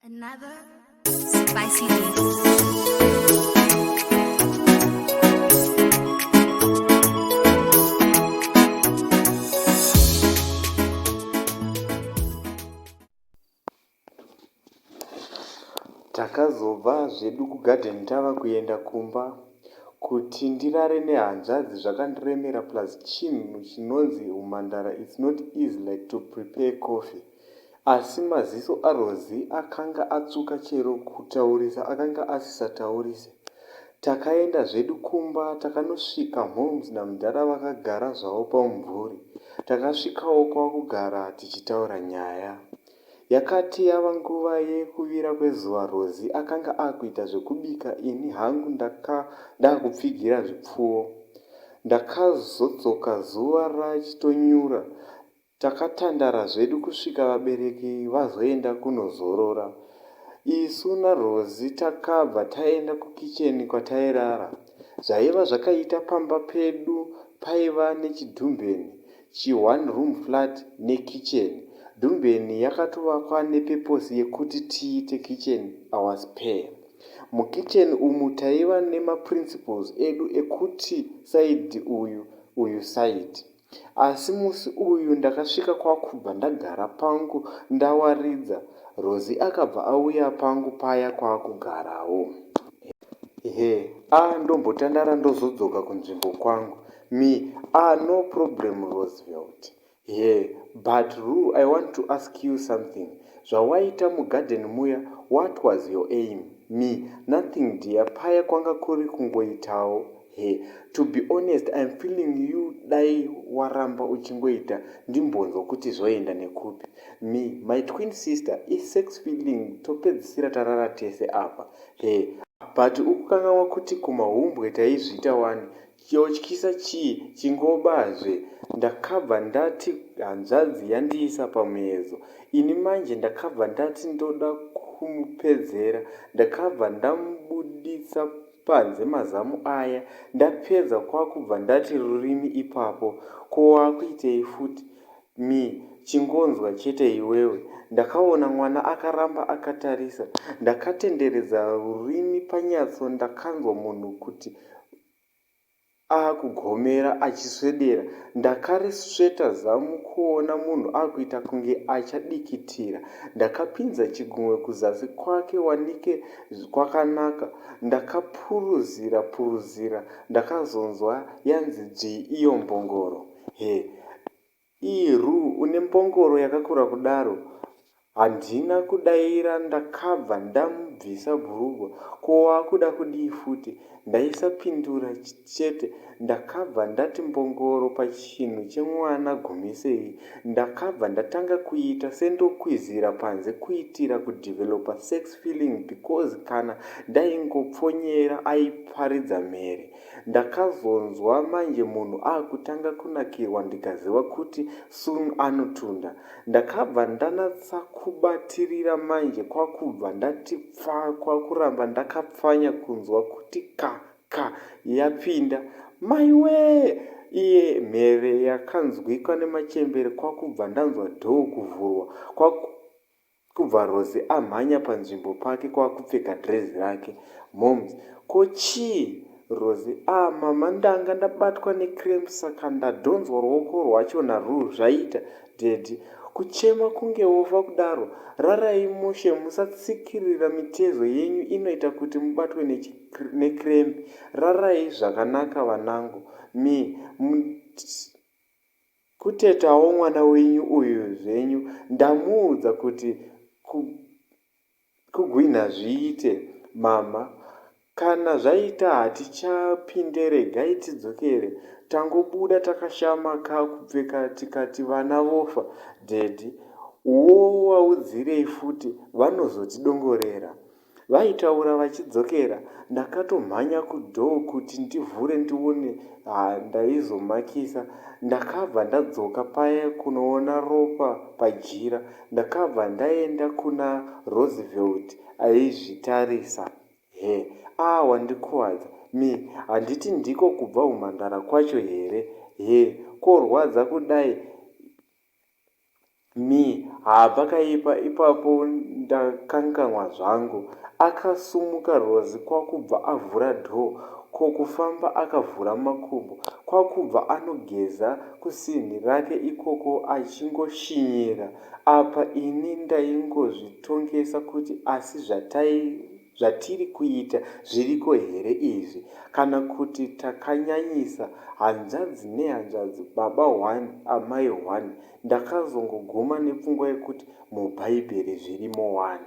Another spicy takazobva zvedu kugarden tava kuenda kumba kuti ndirare nehanzvadzi zvakandiremera plus chinhu chinonzi humhandara its not easy like to prepare coffee Asi maziso aRosie akanga atsvuka chero kutaurisa akanga asisataurise. Takaenda zvedu kumba takanosvika Holmes namudhara vakagara zvavo pamumvuri. Takasvikawo kwakugara tichitaura nyaya. Yakati yava nguva yekuvira kwezuva Rosie akanga akuita zvekubika ini hangu ndaka ndakupfigira zvipfuwo. Ndakazodzoka zuva rachitonyura Takatandara zvedu kusvika vabereki vazoenda kunozorora. Isu naRozi takabva taenda kukitchen kwatairara. Zvaiva zvakaita pamba pedu paiva nechidhumbeni, chi one room flat nekitchen. Dhumbeni yakatovakwa nepurpose yekuti tiite kitchen our spare. Mukitchen umu taiva nemaprinciples edu ekuti side uyu, uyu side. Asi musi uyu ndakasvika kwakubva ndagara pangu ndawaridza Rosie akabva auya pangu paya kwakugarawo. Her, Ah ndombotandara ndozodzoka kunzvimbo kwangu. Me, Ah no problem Roosevelt. Her, But Rue I want to ask you something zvawaita mugarden muya what was your aim? Me, Nothing dear paya kwanga kuri kungoitawo Her, To be honest I'm feeling you dai waramba uchingoita ndimbonzwa kuti zvoenda nekupi. Me, My twin sister isex feeling topedzisira tarara tese apa. Her, But ukukanganwa kuti kumahumbwe taizviita wani chotyisa chii chingoba zve ndakabva ndati hanzvadzi yandiisa pamuyedzo ini manje ndakabva ndati ndoda kumupedzera ndakabva ndamubuditsa panze mazamu aya ndapedza kwakubva ndati rurimi ipapo ko wakuitei futi Me, chingonzwa chete iwewe Ndakaona mwana akaramba akatarisa ndakatenderedza rurimi panyatso ndakanzwa munhu kuti. akugomera achiswedera ndakarisveta zamu kuona munhu akuita kunge achadikitira ndakapinza chigunwe kuzasi kwake wanike kwakanaka ndakapuruzira puruzira ndakazonzwa yanzi dzvii iyo mbongoro her Iih Rue une mbongoro yakakura kudaro Handina kudaira ndakabva ndamubvisa bhurugwa Ko wakuda kudii futi? Ndaisapindura chete ndakabva ndati mbongoro pachinhu chemwana gumisei Ndakabva ndatanga kuita sendokwizira panze kuitira kudeveloper sex feeling because kana ndaingopfonyera aiparidza mhere Ndakazonzwa manje munhu akutanga kunakirwa ndikaziva kuti soon anotunda. Ndakabva ndanatsa kubatirira manje kwakubva ndati pfaa kwakuramba ndakapfanya kunzwa kuti ka ka yapinda. Maiwee! iye mhere yakanzwikwa nemachembere kwakubva ndanzwa door kuvhurwa kwaku Kubva Rose amhanya panzvimbo pake kwakupfeka dress rake. Momz. Ko chii? Rose. Ah mama ndanga ndabatwa necramp saka ndadhonzwa ruoko rwacho naRue zvaita. Daddy. Kuchema kunge wofa kudaro. Rarai mushe musatsikirira mitezo yenyu inoita kuti mubatwe necramp. Rarai zvakanaka vanangu. Me. Mnt. Kutetawo mwana wenyu uyu zvenyu ndamuudza kuti ku kugwinha zviite mhamha kana zvaita hatichapinde regai tidzokere tangobuda takashama ka kupfeka tikati vana vofa daddy wowaudzirei futi vanozotidongorera Vaitaura vachidzokera ndakatomhanya kudoor kuti ndivhure ndione haa ndaizomakisa ndakabva ndadzoka paya kunoona Ropa pajira ndakabva ndaenda kuna Roosevelt aizvitarisa Her, aah wandikuvadza Me, handiti ndiko kubva humhandara kwacho here Her, korwadza kudai Me, Haa pakaipa ipapo ndakanganwa zvangu. Akasumuka Rozi kwakubva avhura door ko kufamba akavhura makumbo kwakubva anogeza kusink rake ikoko achingoshinyira apa ini ndaingozvitongesa kuti asi zvataive. zvatiri kuita zviriko here izvi kana kuti takanyanyisa hanzvadzi nehanzvadzi baba one amai one ndakazongoguma nepfungwa yekuti mubhaibheri zvirimo wani.